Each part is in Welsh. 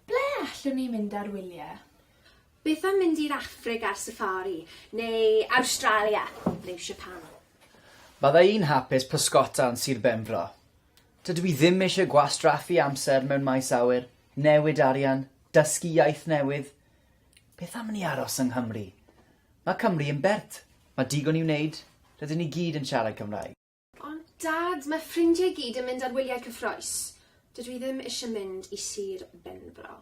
Ble allwn ni mynd ar wyliau? Beth am mynd i'r Affrig ar safari, neu Awstralia, neu Siapan? Bydda i'n hapus pysgota yn Sir Benfro. Dydw i ddim eisiau gwastraffu amser mewn maes awyr, newid arian, dysgu iaith newydd. Beth am i ni aros yng Nghymru? Mae Cymru yn bert. Mae digon i'w wneud. Rydyn ni gyd yn siarad Cymraeg. Ond Dad, mae ffrindiau i gyd yn mynd ar wyliau cyffrous. Dydw i ddim eisiau mynd i Sir Benfro.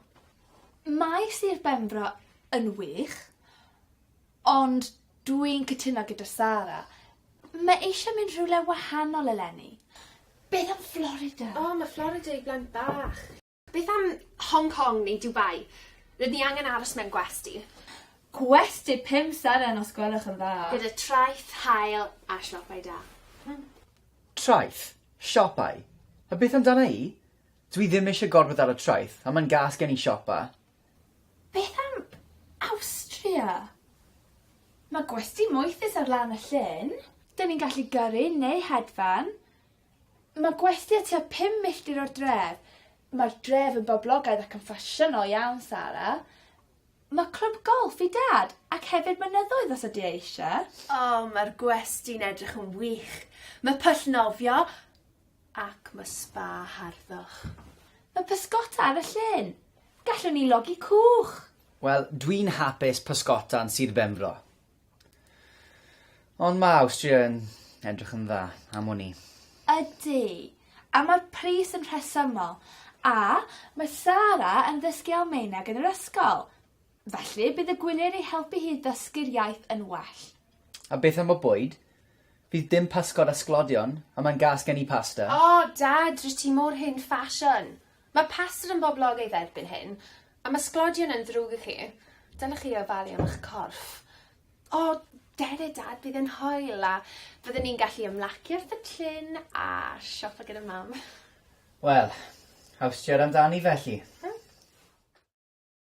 Mae Sir Benfro yn wych. Ond dwi'n cytuno gyda Sara. Mae eisiau mynd rhywle wahanol eleni. Beth am Florida? O, mae Florida i blant bach. Beth am Hong Kong neu Dubai? Rydyn ni angen aros mewn gwesty. Gwesty pum seren os gwelwch yn dda. Gyda traeth, haul a siopau da. Hmm. Traeth? Siopau? A beth amdana i? Dwi ddim eisiau gorfod dal y traeth, a mae'n gas gen i siopa. Beth am Awstria? Mae gwesty moethus ar lan y llyn. Dyn ni'n gallu gyrru neu hedfan. Mae gwesty a tua pum milltir o'r dref. Mae'r dref yn boblogaidd ac yn ffasiynol iawn, Sara. Mae clwb golff i Dad, ac hefyd mynyddoedd os ydy e eisiau. O, mae'r gwesty'n edrych yn wych. Mae pwll nofio. Ac mae sba harddwch. Mae pysgota ar y llyn! Gallwn ni logi cwch! Wel, dwi'n hapus pysgota'n Sir Benfro. Ond mae Awstria yn edrych yn dda am wn i. Ydy, a mae'r pris yn rhesymol. A, mae Sara yn ddysgu Almaeneg yn yr ysgol. Felly, bydd y gwyliau'n ei helpu hi i ddysgu'r iaith yn well. A beth am y bwyd? Fydd dim pysgod a sglodion, a mae'n gas gen i pasta. O, Dad, rwyt ti mor hen ffasiwn! Mae pasta yn boblogaidd erbyn hyn, a mae sglodion yn ddrwg i chi. Dylech chi ofalu am eich corff. O, dere, Dad, bydd e'n hoel, a fyddwn ni'n gallu ymlaci wrth y llyn a siopa gyda Mam. Wel, awstiad amdani felly.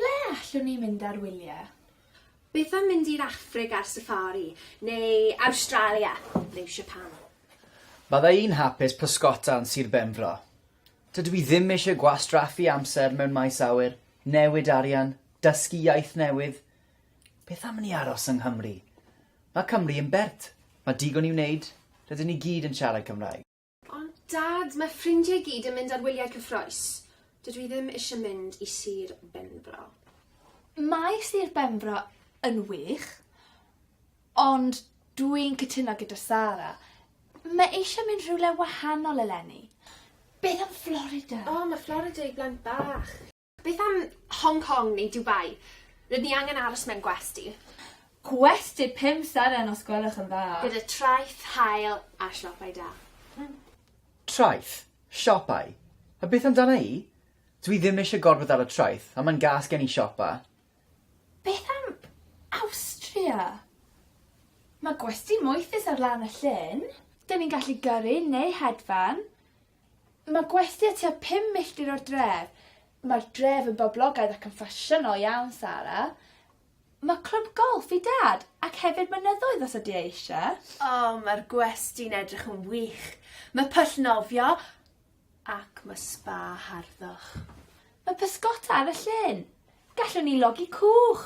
Ble allwn ni mynd ar wyliau? Beth am mynd i'r Affrig ar safari, neu Awstralia, neu Siapan? Bydda i'n hapus pysgota yn Sir Benfro. Dydw i ddim eisiau gwastraffu amser mewn maes awyr, newid arian, dysgu iaith newydd. Beth am i ni aros yng Nghymru? Mae Cymru yn bert. Mae digon i wneud. Rydyn ni gyd yn siarad Cymraeg. Ond Dad, mae ffrindiau i gyd yn mynd ar wyliau cyffrous. Dydw i ddim eisiau mynd i Sir Benfro. Mae Sir Benfro yn wych. Ond dwi'n cytuno gyda Sara. Mae eisiau mynd rhywle wahanol eleni. Beth am Florida? O, mae Florida i blant bach. Beth am Hong Kong neu Dubai? Rydyn ni angen aros mewn gwesty. Gwesty pum seren os gwelwch yn dda. Gyda traeth, haul a siopau da. Hmm. Traeth? Siopau? A beth amdana i? Dwi ddim eisiau gorfod dal y traeth, a mae'n gas gen i siopa. Beth am Awstria? Mae gwesty moethus ar lan y llyn. Dyn ni'n gallu gyrru neu hedfan. Mae gwesty a tua pum milltir o'r dref. Mae'r dref yn boblogaidd ac yn ffasiynol iawn, Sara. Mae clwb golff i Dad, ac hefyd mynyddoedd os ydy e eisiau. O, mae'r gwesty'n edrych yn wych. Mae pwll nofio, Ac mae sba harddwch. Mae pysgota ar y llyn! Gallwn ni logi cwch!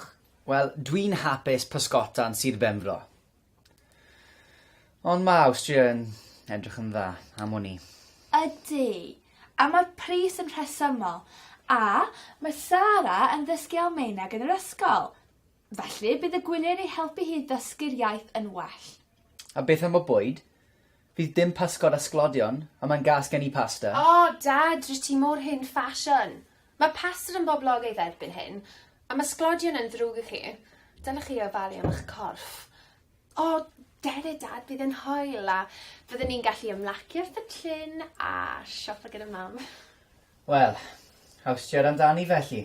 Wel, dwi'n hapus pysgota yn Sir Benfro. Ond mae Awstria yn edrych yn dda am wn i. Ydy, a mae'r pris yn rhesymol. A, mae Sara yn ddysgu Almaeneg yn yr ysgol. Felly, bydd y gwyliau'n ei helpu hi i ddysgu'r iaith yn well. A beth am y bwyd? Fydd dim pysgod a sglodion, a mae'n gas gen i pasta. O, Dad, rwyt ti mor hen ffasiwn! Mae pasta yn boblogaidd erbyn hyn, a mae sglodion yn ddrwg i chi. Dylech chi ofalu am eich corff. O, defaid, Dad, bydd e'n hwyl, a fyddwn ni'n gallu ymlaci wrth y llyn a siopa gyda Mam. Wel, awstiad amdani felly.